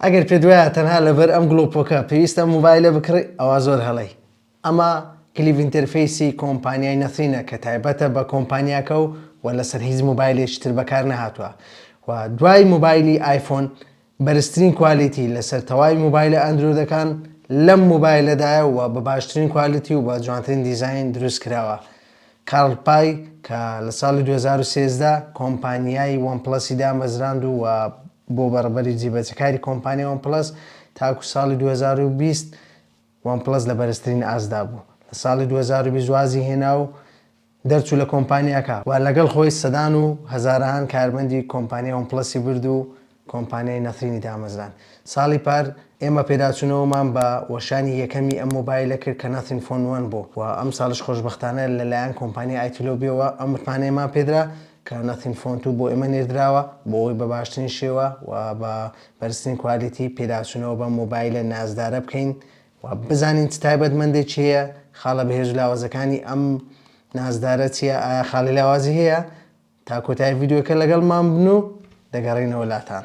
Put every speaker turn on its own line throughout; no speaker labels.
ئەگەر پێت وایە تەنها لەبەر ئەم گڵۆپۆکە پێویستە مۆبایلە بکڕی ئەوا زۆر هەڵەی ئەمە کلیڤ ئینتەرفەیسی کۆمپانیای نەثرینە کە تایبەتە بە کۆمپانیاکە و و لەسەر هیچ مۆبایلێکی تر بەکار نەهاتووە و دوای مۆبایلی ئایفۆن بەرزترین کوالیتی لەسەر تەواوی مۆبایلە ئەندرۆدەکان لەم مۆبایلەدایە و بە باشترین کوالیتی و بە جوانترین دیزاین دروست کراوە کارل پای کە لە ساڵی دوو هەزار و سێزدە کۆمپانیای وەن پڵەسی دامەزراند و بۆ بەڕبەری جیبەجەکاری کۆمپانیای وەن پڵەس تاکو ساڵی دوو هەزار و بیست وەن پڵەس لە بەرزترین ئاستدا بوو لە ساڵی دوو هەزار و بیست وازی هێنا و دەرچوو لە کۆمپانیاکە و لەگەڵ خۆی سەدان و هەزارەهان کارمەندی کۆمپانیای وەن پڵەسی برد و کۆمپانیای نەثرینی دامەزراند. ساڵی پار ئێمە پێداچوونەوەمان بە وەشانی یەکەمی ئەم مۆبایلە کرد کە نەثرین فۆن وەن بوو و ئەمساڵیش خۆشبەختانە لە لایەن کۆمپانیای ئایتولۆبیەوە ئەم متمانەیەمان پێدرا کە نەثرین فۆن توو بۆ ئێمە نێردراوە بۆ ئەوەی بە باشترین شێوە و بە بەرزترین کوالیتی پێداچوونەوە بەم مۆبایلە نازدارە بکەین و بزانین چ تایبەتمەندێکی هەیە، خاڵە بەهێز و لاوازەکانی ئەم نازدارە چییە، ئایا خاڵی لاوازی هەیە؟ تا کۆتایی ڤیدیۆکە لەگەڵمان بن و دەگەڕینەوە لاتان.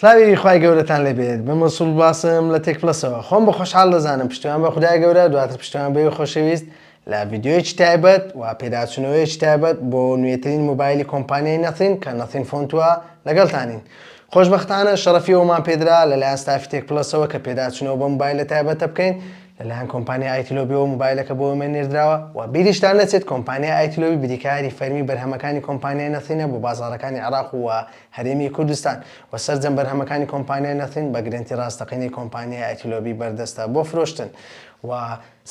سلاوی خوای گەورەتان لێبێت بە مەسول باسم لە تێک پلەسەوە خۆم بە خۆشحال دەزانم پشتیوان بە خدای گەورە دواتر پشتیوان بەوی خۆشەویست لە ڤیددیوەیەکی تایبەت و پێداچوونەوەیەکی تایبەت بۆ نوێترین موبایلی کۆمپانیای نەثین کە نەثین فۆنتوە لەگەڵتانین خۆشبەختانە شەڕەفی ئەومان پێدرا لەلایەن ستافی تێک پلەسەوە کە پێداچوونەوە بە موبایلە تایبەتە بکەین لەلایەن کۆمپانیای ئایتلۆبیەوە موبایلەکە بۆ ئێمە نێردراوە و بیریشتان نەچێت کۆمپانیای ئایتلۆبی بریکاری فەرمی بەرهەمەکانی کۆمپانیای نەثینە بۆ بازاڕەکانی عێراق و هەرێمی کوردستان و سەرجەم بەرهەمەکانی کۆمپانیای نەثین بە گرەنتی ڕاستەقینەی کۆمپانیای ئایتلۆبی بەردەستە بۆ فرۆشتن و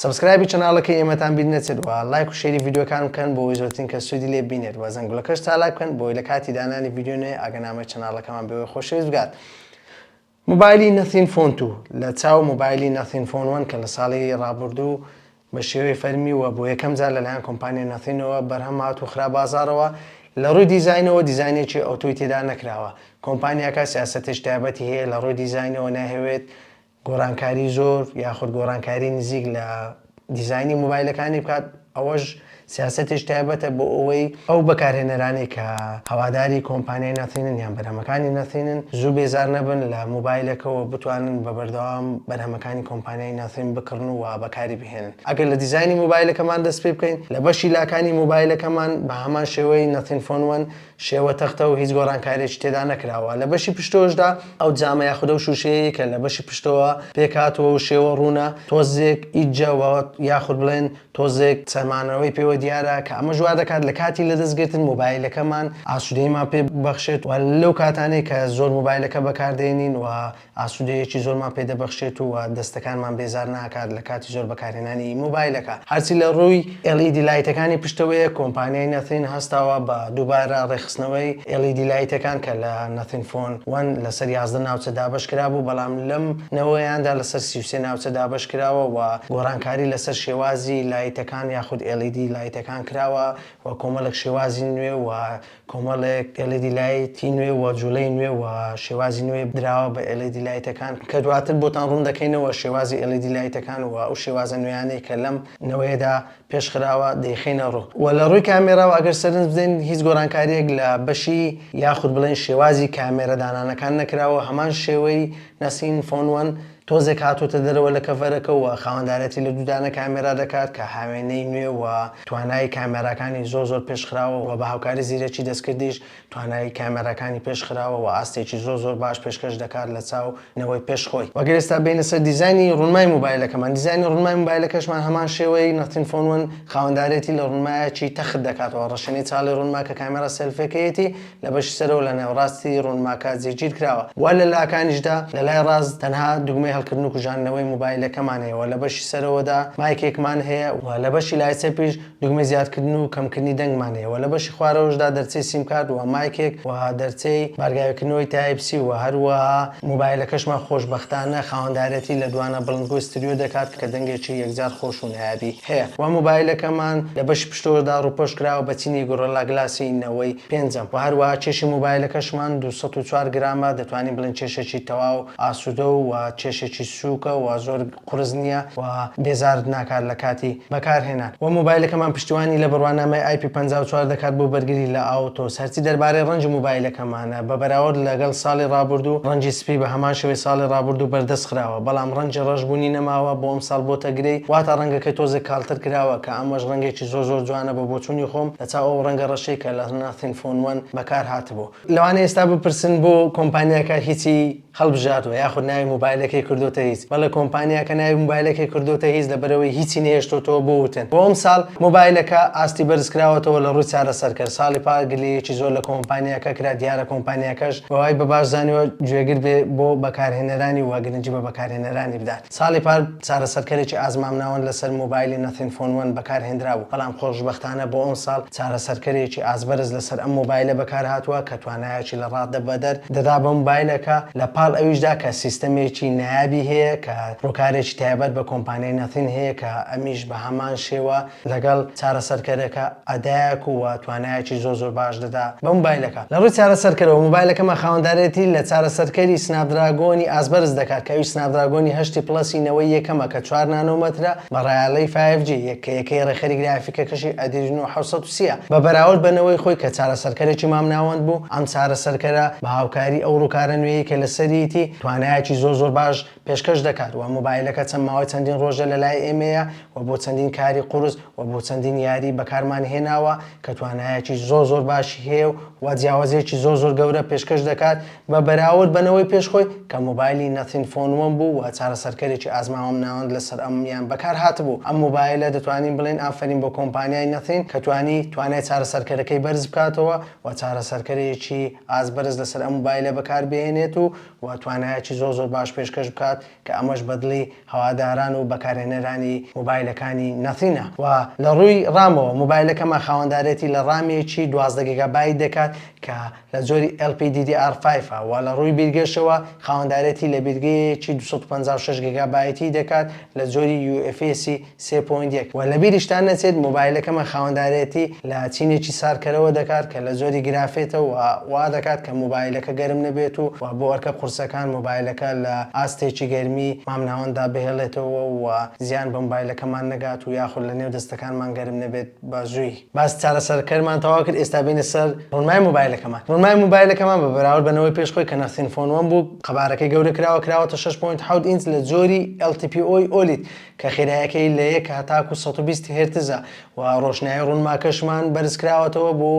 سەبسکرایبی چەناڵەکەی ئێمەتان بیر نەچێت و لایک و شێری ڤیدیۆکان بکەن بۆ ئەوی زۆرترین کەس سوودی لێ بینێت و زەنگولەکەش چالاک بکەن بۆی لە کاتی دانانی ڤیدیۆ نوێ ئاگەنامەی چەناڵەکەمان بەوێ خۆشەویست بگات مۆبایلی نەثین فۆن توو لە چاو مۆبایلی نەثین فۆن وەن کە لە ساڵی ڕابوردوو بە شێوەی فەرمی و بۆ یەکەم جار لەلایەن کۆمپانیای نەثینەوە بەرهەم هات و خرا بازاڕەوە، لە ڕووی دیزاینەوە دیزاینێکی ئەوتۆی تێدا نەکراوە، کۆمپانیاکە سیاسەتێکی تایبەتی هەیە لە ڕووی دیزاینەوە نایهەوێت گۆڕانکاری زۆر یاخود گۆڕانکاری نزیک لە. دیزاینی مۆبایلەکانی بکات، ئەوەش سیاسەتێکی تایبەتە بۆ ئەوەی ئەو بەکارهێنەرانەی کە هەواداری کۆمپانیای ناثینن یان بەرهەمەکانی ناثینن زوو بێزار نەبن لە مۆبایلەکەوە بتوانن بە بەردەوام بەرهەمەکانی کۆمپانیای ناثین بکڕن و بەکاری بهێنن ئەگەر لە دیزاینی مۆبایلەکەمان دەست پێ بکەین لە بەشی لاکانی مۆبایلەکەمان بە هەمان شێوەی ناثین فۆن وەن شێوە تەختە و هیچ گۆڕانکارییەکی تێدا نەکراوە، لە بەشی پشتەوەشدا ئەو جامە یاخود ئەو شووشەیەی کە لە بەشی پشتەوە پێکهاتووە و شێوە ڕوونە، تۆزێک ئیجە وە یاخود بڵێن تۆزێک چەمانەوەی پێوە دیارە، کە ئەمەش وا دەکات لە کاتی لەدەستگرتن مۆبایلەکەمان ئاسوودەییمان پێ ببەخشێت و لەو کاتانەی کە زۆر مۆبایلەکە بەکار دێنین و ئاسوودەییەکی زۆرمان پێ دەبەخشێت و دەستەکانمان بێزار ناکات لە کاتی زۆر بەکارهێنانی مۆبایلەکە. هەرچی لە ڕووی ئێل ئی دی لایتەکانی پشتەوەیە، کۆمپانیای نەثین هەستاوە بە دووبارە ڕێکخستنەوەی ئێل ئی دی لایتەکان کە لە نەثین فۆن وەن لەسەر یازدە ناوچە دابەش کرابوو، بەڵام لەم نەوەیاندا لەسەر سی و سێ ناوچە دابەش کراوە و گۆڕانکاری لەسەر شێوازی لایتەکان یاخود ئێل ئی دی لایتەکان کراوە و کۆمەڵێک شێوازی نوێ و کۆمەڵێک ئێڵیدی لایتی نوێ و جوڵەی نوێ و شێوازی نوێ دراوە بە ئێڵیدی لایتەکان کە دواتر بۆتان ڕوون دەکەینەوە شێوازی ئێڵیدی لایتەکان و ئەو شێوازە نوێیانەی کە لەم نەوەیەدا پێش خراوە دەیخەینە ڕوو و لە ڕووی کامێراوە ئەگەر سەرنج بدەین هیچ گۆرانکارییەک لە بەشی یاخود بڵێین شێوازی کامێرە دانانەکان نەکراوە هەمان شێوەی نەسین فۆن وەن تۆزێک هاتۆتە دەرەوە لە کەڤەرەکە و خاوەندارێتی لە دوودانە کامێرا دەکات کە هاوێنەی نوێ و توانایی کامێراکانی زۆر زۆر پێش خراوە و بە هاوکاری زیرەکی دەستکردیش توانایی کامێراکانی پێش خراوە و ئاستێکی زۆر زۆر باش پێشکەش دەکات لە چاو نەوەی پێش خۆی. و گەر ئێستا بێینە سەر دیزاینی ڕونمای موبایلەکەمان دیزاینی ڕونمای موبایلەکەشمان هەمان شێوەی Nothing Phone One خاوەندارێتی لە ڕونمایەکی تەخت دەکاتەوە ڕەشێنەی چاڵی ڕونما کە کامێرا سێلفێکەیەتی لە بەشی سەرەوە لە ناوەڕاستی ڕۆنماکە جێگیر کراوە و لە لاکانیشدا لە لای ڕاست تەنها دوگمەی هەڵکردن و کوژاندنەوەی موبایلەکەمان هەیە و لە بەشی سەرەوەدا مایکێکمان هەیە و لە بەشی لای چەپیش دوگمەی زیادکردن و کەمکردنی دەنگمان هەیە و لە بەشی خوارەوەشدا دەرچەی سیمکارت و مایکێک و دەرچەی بارگاویکردنەوەی تایپ سی و هەروەها موبایلەکەشمان خۆشبەختانە خاوەندارێتی لە دوانە بڵندگۆی ستریۆ دەکات کە دەنگێکی یەکجار خۆش و نایابی هەیە وە موبایلەکەمان لە بەشی پشتوەردا ڕووپۆش کراوە بە چینی گۆڕلا گلاسی نەوەی پێنجەم وە هەروەها کێشی موبایلەکەشمان دوو سەد و چوار گرامە دەتوانین بڵێین کێشێکی تەواو ئاسودە و وە کێشێکی سوکە وە زۆر قورس نییە وە بێزارت ناکات لە کاتی بەکار هێنان وە موبایلەکەمان پشتیوانی لە بڕوانامەی ئای پی پەنجا و چوار دەکات بۆ بەرگری لە ئاوتۆس هەرچی دەربارەی ڕەنگی موبایلەکەمانە بە بەراورد لەگەڵ ساڵی ڕابوردوو، ڕەنجی سپی بە هەمان شێوەی ساڵی ڕابوردوو بەردەست خراوە، بەڵام ڕەنجی ڕەش بوونی نەماوە، بۆ ئەمساڵ بۆتە گرێی، واتە ڕەنگەکەی تۆزێک کاڵتر کراوە، کە ئەمەش ڕەنگێکی زۆر زۆر جوانە بە بۆچوونی خۆم لە چاو ئەو ڕەنگە ڕەشەی کە لە Nothing Phone One بەکار هاتبوو. لەوانەیە ئێستا بپرسن بۆ کۆمپانیاکە هیچی هەڵبژاردوە یاخود ناوی موبایلەکەی کردۆتە هیچ بەڵێ کۆمپانیاکە ناوی موبایلەکەی کردۆتە هیچ لەبەرئەوەی هیچی نەهێشتۆتەوە بۆ وتن بۆ ئەمساڵ موبایلەکە ئاستی بەرزکراوەتەوە لە ڕووی چارەسەرکەر ساڵی پار گلەیەکی زۆر لە کۆمپانیاکە کرا دیارە کۆمپانیاکەش بەوای بەباش زانیوە گوێگر بێ بۆ بەکارهێنەرانی و گرنگی بە بەکارهێنەرانی بدات. ساڵی پار چارەسەرکەرێکی ئازمامناوەند لەسەر مۆبایلی Nothing Phone One بەکارهێنرابوو، بەڵام خۆشبەختانە بۆ ئەمساڵ چارەسەرکەرێکی ئازبەرز لەسەر ئەم مۆبایلە بەکارهاتووە کە توانایەکی لەڕادە بەدەر دەدا بە مۆبایلەکە، لەپاڵ ئەویشدا کە سیستەمێکی نایابی هەیە کە ڕووکارێکی تایبەت بە کۆمپانیای Nothing هەیە کە ئەمیش بەهەمان شێوە لەگەڵ چارەسەرکەرەکە ئەدایەک و توانایەکی زۆر زۆر باش دەدا بە مۆبایلەکە. لە ڕووی چارەسەرکەرەوە مۆبایلەکەمان خاوەندارێتی لە چارەسەرکەری سناپدراگۆنی ئاست بەرز دەکات کە ئەویش سناپدراگۆنی هەشتی پڵەسی نەوەی یەکەمە کە چوار نانۆمەترە بە ڕایەڵەی فایڤ جی یەک کە یەکەی ڕێکخەری گرافیکەکەشی ئەدریرنۆ حەوت سەد و سی ە بە بەراورد بە نەوەی خۆی کە چارەسەرکەرێکی مامناوەند بوو ئەم چارەسەرکەرە بە هاوکاری ئەو ڕووکارە نوێیەی کە لەسەریتی توانایەکی زۆر زۆر باش پێشکەش دەکات وە مۆبایلەکە چەند ماوەی چەندین ڕۆژە لەلای ئێمەیە وە بۆ چەندین کاری قورس وە بۆ چەندین یاری بەکارمان هێناوە کە توانایەکی زۆر زۆر باشی هەیە و وە جیاوازیەکی زۆر زۆر گەورە پێشکەش دەکات بە بەراورد بە نەوەی پێش خۆی کە مۆبایلی نەثین فۆن وەن بوو وە چارەسەرکەرێکی ئازماوەم ناوەند لەسەر ئەم یان بەکار هاتبوو ئەم مۆبایلە دەتوانین بڵێین ئافەرین بۆ کۆمپانیای نەثین کە توانی توانای چارەسەرکەرەکەی بەرز بکاتەوە وە چارەسەرکەرێکی ئاست بەرز لەسەر ئەم مۆبایلە بەکار بهێنێت و و توانایەکی زۆر زۆر باش پێشکەش بکات کە ئەمەش بەدڵی هەواداران و بەکارهێنەرانی مۆبایلەکانی نەثینە و لە ڕووی ڕامەوە مۆبایلەکەمان خاوەندارێتی لە ڕامێکی دوازدە گیگابایت دەکات کە لە جۆری LPDDR5 ە و لە ڕووی بیرگەشەوە خاوەندارێتی لە بیرگەیەکی دوو سەد و پەنجا و شەش گیگابایتی دەکات لە جۆری UFS ی سێ پۆینت یەک، وە لەبیریشتان نەچێت مۆبایلەکەمان خاوەندارێتی لە چینێکی ساردکەرەوە دەکات کە لە جۆری گرافێتە و وا دەکات کە مۆبایلەکە گەرم نەبێت و بۆ ئەرکە قورسەکان مۆبایلەکە لە ئاستێکی گەرمی مامناوەنددا بهێڵێتەوە و زیان بە مۆبایلەکەمان نەگات و یاخود لە نێو دەستەکانمان گەرم نەبێت بە زووی. باسی چارەسەرکەرمان تەواو کرد ئێستا بێینە سەر ڕونمای مۆبایلەکەمان ڕونمای مۆبایلەکەمان بە بەراورد بە نەوەی پێش خۆی کە نەسین فۆن وەن بوو قەبارەکەی گەورە کراوە کراوەتە شەش پۆینت حەوت ئینچ لە جۆری LTPO ی ئۆلید کە خێرایەکەی لە یەک هەتاکو سەد و بیست هێرتزە و ڕۆشنایی ڕوونماکەشمان بەرزکراوەتەوە بۆ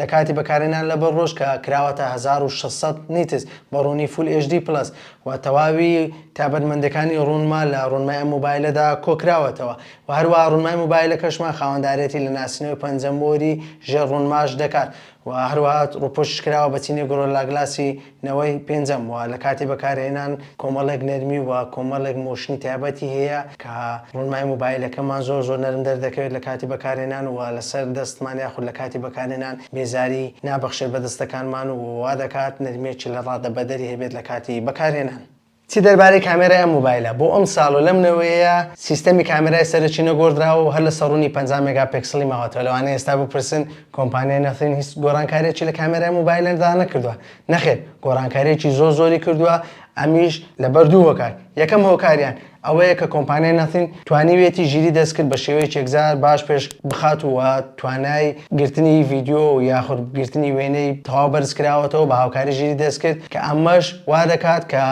لە کاتی بەکارهێنان لە بەر ڕۆژ کە کراوەتە هەزار و شەش سەد نیتس بە ڕوونی فول ئێچ دی پڵەس و تەواوی تابەتمەندێکانی ڕوونما لە ڕوونمای ئەم مۆبایلەدا کۆکراوەتەوە و هەروەها ڕوونمای مۆبایلەکەشمان خاوەندارێتی لە ناسینەوەی پەنجە مۆری ژێر ڕوونماش دەکات و هەروەها ڕووپۆشیش کراوە بە چینی گۆرۆلاگلاسی نەوەی پێنجەم و لە کاتی بەکارهێنان کۆمەڵێک نەرمی و کۆمەڵێک مۆشنی تایبەتی هەیە کە ڕۆنمای مۆبایلەکەمان زۆر زۆر نەرم دەردەکەوێت لە کاتی بەکارهێنان و لەسەر دەستمان یاخود لە کاتی بەکارهێنان بێزاری نابەخشێت بە دەستەکانمان و وادەکات نەرمیەکی لە ڕادەبەدەری هەبێت لە کاتی بەکارهێنان. چی دەربارەی کامێرای ئەم مۆبایلە، بۆ ئەم ساڵ و لەم نەوەیەیە سیستەمی کامێرای سەرەکی نەگۆڕدراوە و هەر لە سەڕوونی پەنجا مێگا پێکسڵی ماوەتەوە، لەوانەیە ئێستا بپرسن کۆمپانیای نەثرین هیچ گۆڕانکارییەکی لە کامێرای مۆبایلەدا نەکردووە، نەخێر گۆڕانکارییەکی زۆر زۆری کردووە ئەمیش لەبەر دوو هۆکار، یەکەم هۆکاریان ئەوەیە کە کۆمپانیای نەثرین توانیویەتی ژیری دەستکرد بە شێوەیەکی یەکجار باش پێش بخات و توانای گرتنی ڤیدیۆ و یاخود گرتنی وێنەی تەواو بەرز کراوەتەوە بە هاوکاری ژیری دەستکرد کە ئەمەش وا دەکات کە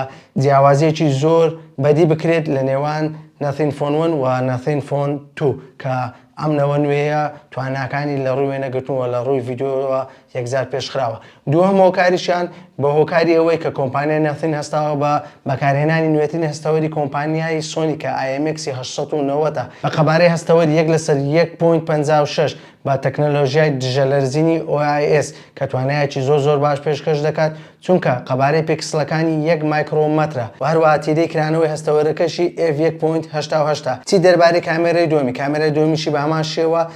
جیاوازییەکی زۆر بەدی بکرێت لە نێوان Nothing Phone One و Nothing Phone Two کە ئەم نەوە نوێیە تواناکانی لە ڕووی وێنەگرتن و لە ڕووی ڤیدیۆوە یەکجار پێشخراوە. دووهەم هۆکاریشیان بە هۆکاری ئەوەی کە کۆمپانیای نەتن هەستاوە بە بەکارهێنانی نوێترین هەستەوەری کۆمپانیای سۆنی کە IMX هەشت سەد و نەوەد ە بە قەبارەی هەستەوەر یەک لەسەر یەک پۆینت پەنجا و شەش بە تەکنەلۆژیای دژە لەرزینی OIS کە توانایەکی زۆر زۆر باش پێشکەش دەکات چونکە قەبارەی پیکسڵەکانی یەک مایکڕۆ مەترە و هەروەها تیرەی کرانەوەی هەستەوەرەکەشی F یەک پۆینت هەشتا و هەشت ە. چی دەربارەی کامێرەی دووەمی؟ کامێرای دووەمیشی بە هەمان شێوە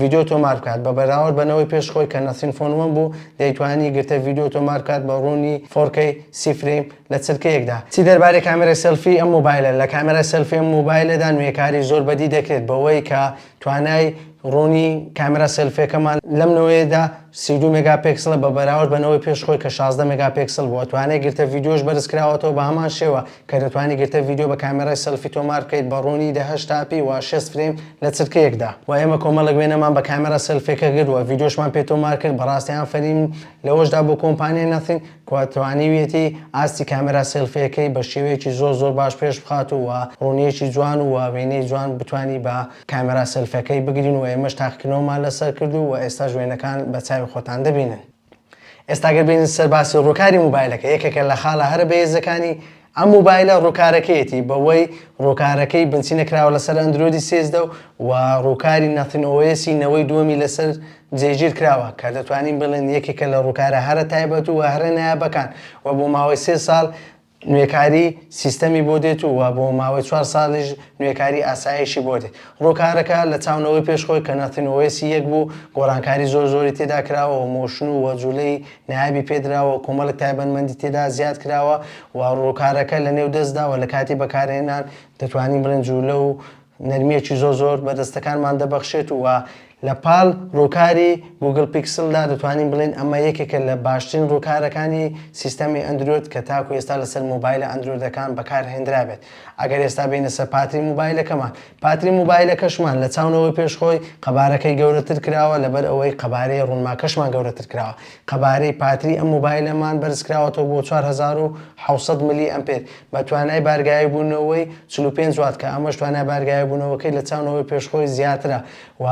ڤیدیۆ تۆمار بکات بە بەراورد بە نەوەی پێش خۆی کە نەسرین فۆن وەن بوو دەیتوانی گرتە ڤیدیۆ تۆمار بکات بە ڕوونی فۆر کەی سی فرەیم لە چرکەیەکدا. چی دەربارەی کامێرای سێلفی ئەم مۆبایلە؟ لە کامێرای سێلفی ئەم مۆبایلەدا نوێکاری زۆر بەدی دەکرێت بەوەی کە توانای ڕوونی کامێرا سێلفیەکەمان لەم نەوەیەدا سی و دوو مێگا پێکسڵە بە بەراورد بە نەوەی پێش خۆی کە شازدە مێگا پێکسڵ بووە توانای گرتە ڤیدیۆش بەرز کراوەتەوە بە هەمان شێوە کە دەتوانی گرتە ڤیدیۆ بە کامێرای سێلفی تۆمار بکەیت بە ڕوونی دە هەشتا پی و شێست فرەیم لە چرکەیەکدا، و ئێمە کۆمەڵێک وێنەمان بە کامێرا سێلفیەکە گرت و ڤیدیۆشمان پێ تۆمار کرد، بەڕاستی ئافەرین لەوەشدا بۆ کۆمپانیای نەثین کە توانیویەتی ئاستی کامێرا سێلفیەکەی بە شێوەیەکی زۆر زۆر باش پێش بخات و ڕوونیەکی جوان و وێنەی جوان بتوانی بە کامێرا سێلفەکەی بگرین و ئێمەش تاقیکردنەوەمان لەسەر کرد و ئێستاش وێنەکان بە چاوی خۆتان دەبینن. ئێستا گەر بێین سەر باسی ڕوکاری موبایلەکە یەکێکە لە خاڵە هەرە بەهێزەکانی ئەم موبایلە ڕوکارەکەیەتی بەوەی ڕوکارەکەی بنچی نەکراوە لەسەر ئەندرۆیدی سێزدە و و ڕوکاری نەتن ئۆیەسی نەوەی دووەمی لەسەر جێگیر کراوە کە دەتوانین بڵێن یەکێکە لە ڕوکارە هەرە تایبەت و هەرە نایابەکان و بۆ ماوەی سێ ساڵ نوێکاری سیستەمی بۆ دێت و وە بۆ ماوەی چوار ساڵیش نوێکاری ئاسایشی بۆ دێت. ڕووکارەکە لە چاونەوەی پێش خۆی کە ناتین وێسی یەک بوو، گۆڕانکاری زۆر زۆری تێدا کراوە و مۆشن و وە جولەی نایابی پێ دراوە و کۆمەڵێک تایبەنمەندی تێدا زیاد کراوە و ڕووکارەکە لە نێو دەستدا و لە کاتی بەکارهێنان دەتوانین بڵێن جولە و نەرمیەکی زۆر زۆر بە دەستەکانمان دەبەخشێت و لە پاڵ ڕووکاری گووگڵ پیکسلدا دەتوانین بڵێین ئەمە یەکێکە لە باشترین ڕووکارەکانی سیستەمی ئەندرۆید کە تاکو ئێستا لەسەر مۆبایلە ئەندرۆیدەکان بەکارهێنرابێت ئەگەر ئێستا بێینە سەر پاتری مۆبایلەکەمان پاتری مۆبایلەکەشمان لە چاونەوەی پێش خۆی قەبارەکەی گەورەتر کراوە لەبەر ئەوەی قەبارەی ڕوونماکەشمان گەورەتر کراوە قەبارەی پاتری ئەم مۆبایلەمان بەرزکراوەتەوە بۆ چوار هەزار و حەوت سەد ملی ئەمپێر بە توانای بارگاییبوونەوەی چل و پێنج وات کە ئەمەش توانای بارگاییبوونەوەکەی لە چاو نەوەی پێش خۆی زیاترە و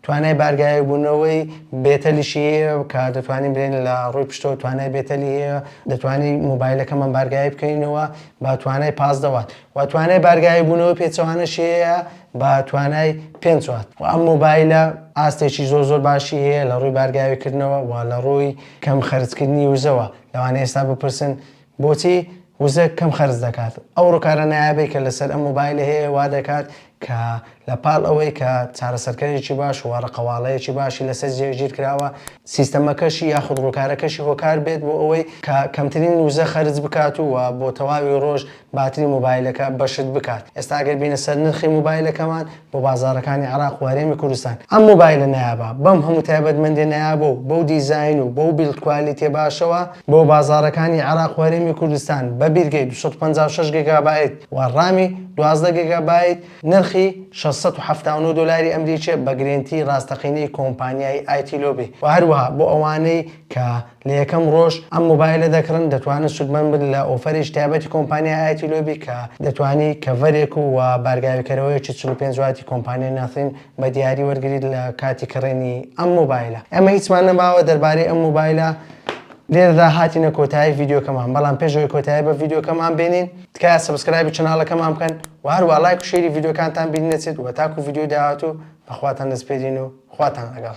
توانای بارگاییبوونەوەی بێتەلیشی هەیە کە دەتوانین بلێین لە ڕووی پشتەوە توانای بێتەلی هەیە دەتوانین مۆبایلەکەمان بارگایی بکەینەوە بە توانای پازدە وات و توانای بارگاییبوونەوەی پێچەوانەشی هەیە بە توانای پێنج وات و ئەم مۆبایلە ئاستێکی زۆر زۆر باشی هەیە لە ڕووی بارگاویکردنەوە و لە ڕووی کەم خەرجکردنی وزەوە لەوانەیە ئێستا بپرسن بۆچی وزە کەم خەرج دەکات؟ ئەو ڕووکارە نایابەی کە لەسەر ئەم مۆبایلە هەیە وا دەکات کە لە پاڵ ئەوەی کە چارەسەرکەرێکی باش و ڕقەواڵەیەکی باشی لەسەر جێگیر کراوە، سیستەمەکەشی یاخود ڕووکارەکەشی هۆکار بێت بۆ ئەوەی کە کەمترین وزە خەرج بکات و بۆ تەواوی ڕۆژ باتری مۆبایلەکە بەشت بکات. ئێستا ئەگەر بینە سەر نرخی مۆبایلەکەمان بۆ بازاڕەکانی عێراق و هەرێمی کوردستان ئەم مۆبایلە نایابە بەم هەموو تایبەتمەندیە نایابە و بەو دیزاین و بەو بیلد کوالیتیە باشەوە بۆ بازاڕەکانی عێراق و هەرێمی کوردستان بە بیرگەی دوو سەد و پەنجا و شەش گێگابایت و ڕامی دوازدە گێگابایت نرخی شەش سەد و حەفتا و نۆ دۆلاری ئەمریکیە بە گرێنتی ڕاستەقینەی کۆمپانیای ئایتیلۆبی و هەروەها بۆ ئەوانەی کە لە یەکەم ڕۆژ ئەم مۆبایلە دەکڕن دەتوانن سوودمەند بن لە ئۆفەرێکی تایبەتی کۆمپانیای ئایتی لۆبی کە دەتوانی کەڤەرێک و بارگاویکەرەوەیەکی چل و پێنج واتی کۆمپانیای ناثین بە دیاری وەرگریت لە کاتی کڕینی ئەم مۆبایلە ئێمە هیچمان نەماوە دەربارەی ئەم مۆبایلە لێرەدا هاتینە کۆتایی ڤیدیۆکەمان بەڵام پێش ئەوەی کۆتایی بە ڤیدیۆکەمان بێنین تکایە سەبسکرایبی چەناڵەکەمان بکەن و هەروە لایک و شێری ڤیدیۆکانتان بیر نەچێت و تاکو ڤیدیۆی داهاتوو بەخواتان دەسپێرین و خواتان لەگەڵ